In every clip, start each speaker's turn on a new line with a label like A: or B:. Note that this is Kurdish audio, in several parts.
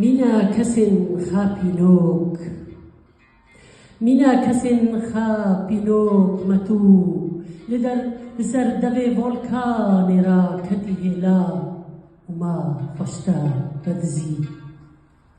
A: Mîna kesên xa pînok Mîna kesên xa pînok me tu li der li ser devê volkanê ra ketî hêla û ma xweşta vedizî.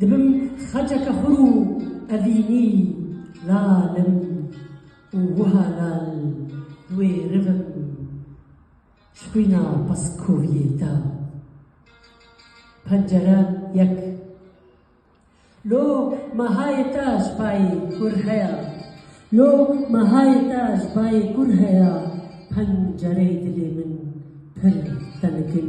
A: Dibim xeceke xur û evînî lal im û wiha lal li wê riv im ji xwîna paskoviyê da pencere yek Lo mehayê te ji bayê kur heya Lo mehayê te ji bayê kur heya Pencereyê dilê min pir tenik in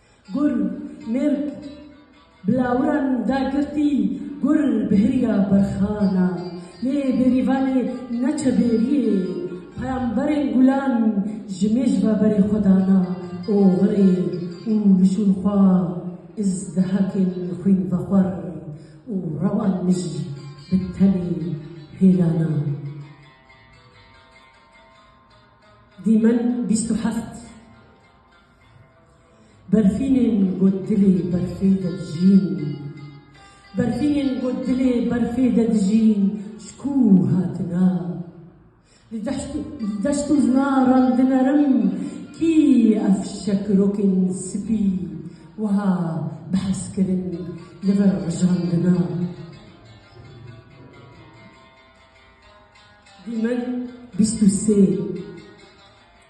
A: Gur, Mirg, bi lawiran da girtî, gur bi hiriya berxana. Lê bêrîvanê ne çebêriyê, peyamberên gulan ji mêj ve berê xwe dana oxirê û li şûn xwe îzdihakên xwînvexwar û rewan mij bi tenê hêlana. Dîmen bîst û heft. Berfînên ku dilê berfê de dijîn Berfînên ku dilê berfê de dijîn ji ku hatine? Li deşt û zinaran dinerim Kî ev şekirokên spî wiha bi hez kirin li vir rijandine? Dîmen bîst û sê.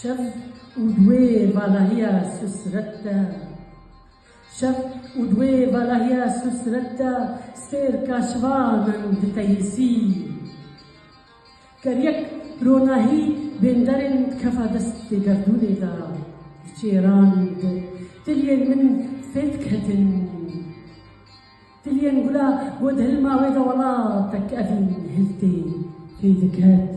A: Şev û duê valahiya susret de Şev û duê valahiya susret de Sêr kaşivanan diteyîsî Ker yek ronahî bênderên kefa destê gerdûnê de diçêrand Tiliyên min fê diketin Tiliyên gula bo dihilma wê de Welatek evîn hiltê fê diket.